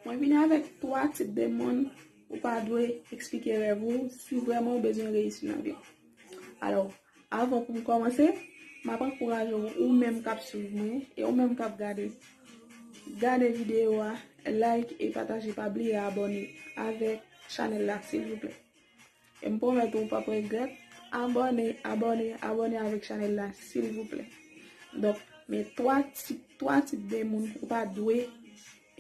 Mwen vini avèk 3 tip de moun ou pa dwe eksplike rèv ou si vrèman ou bezwen reyisi nan vi. Alò, avan pou m kòmanse, m ap ankouraje w ou menm k ap swiv mwen e ou menm k ap gade, gade videyo a, like e pataje pa bliye abòne avèk chanèl la silvouplè. E m pwomèt ou, ou pap regrèt. Abòne, abòne, abòne avèk chanèl la silvouplè. Donk, men 3 tip, 3 tip de moun ou pa dwe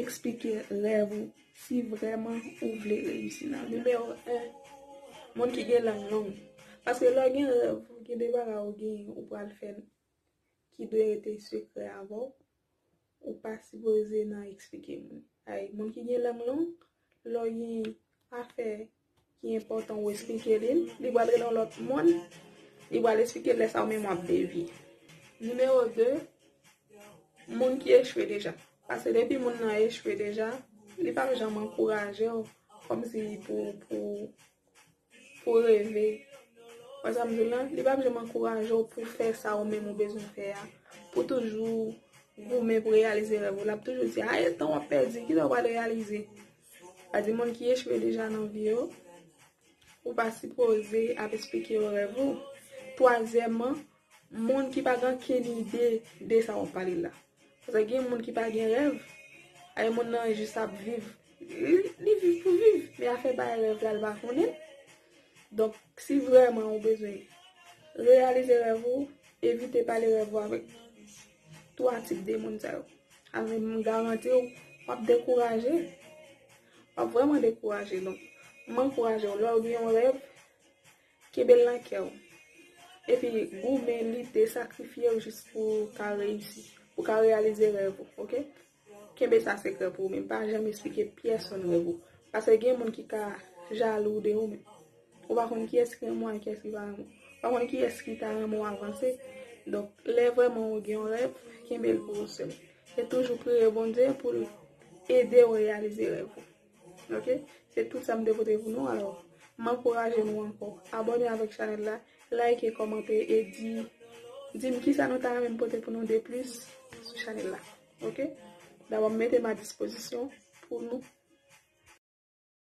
eksplike rèv ou si vrèman ou vle reyisi nan vi. Nimewo 1, Moun ki gen lang long. Paske lè w gen rèv, gen de bagay ou gen, ou pral fè l. ki dwe rete sekrè avè w, ou pa sipoze nan eksplike moun. Ay, moun ki gen lang long, lè w gen afè ki enpòtan ou eksplike li l, li pral rele yon lòt moun, li pral eksplike l lè sa ou menm w ap devye. Nimewo 2, Moun ki echwe deja. Paske depi moun nan echwe deja, li pap janm ankouraje w kòmsi pou Pou w reve. Wè sa m di w la? Li pap janm ankouraje w pou w fè sa ou menm ou bezwen fè a. Pou w toujou goumen pou w reyalize rèv ou. L ap toujou di, aye tan w ap pèdi, kilè w pral reyalize? Sa di moun ki echwe deja nan vi yo, ou pa sipoze ap esplike yo rèv ou. Twazyèman. Moun ki pa gen ankenn ide de sa wap pale la. Paske gen moun ki pa gen rèv, ay moun nan jis ap viv, li viv pou viv, men afè bay rèv la li pa konnen. Donk si vrèman ou bezwen reyalize rèv ou, evite pale rèv ou avèk 3 tip de moun sa yo. Avèm m garanti ou, wap dekouraje. Wap vrèman dekouraje. Donk m ankouraje ou lèw gen yon rèv, Kenbe l nan kè w. Epi goumen, lite, sakrifye w jis pou w ka reyisi. Pou w ka reyalize rèv ou. Ok? Kenbe sa sekrè pou ou menm. Pa janm esplike pèsonn rèv ou. Paske gen moun ki ka jalou de ou menm. Ou pa konn kiyès ki renmen w ak kiyès ki pa renmen w. Ou pa konn kiyès ki ta renmen w avanse. Donk, lè vrèman ou gen yon rèv, kenbe l pou ou sèl. E toujou priye Bondye pou l ede ou reyalize rèv ou. Ok se tout sa m te pote pou nou alò m ankouraje nou ankò abòne avèk chanèl la like kòmante e di di m kisa nou ta renmen m pote pou nou de plis sou chanèl la ok dabò m mete m a dispozisyon pou nou.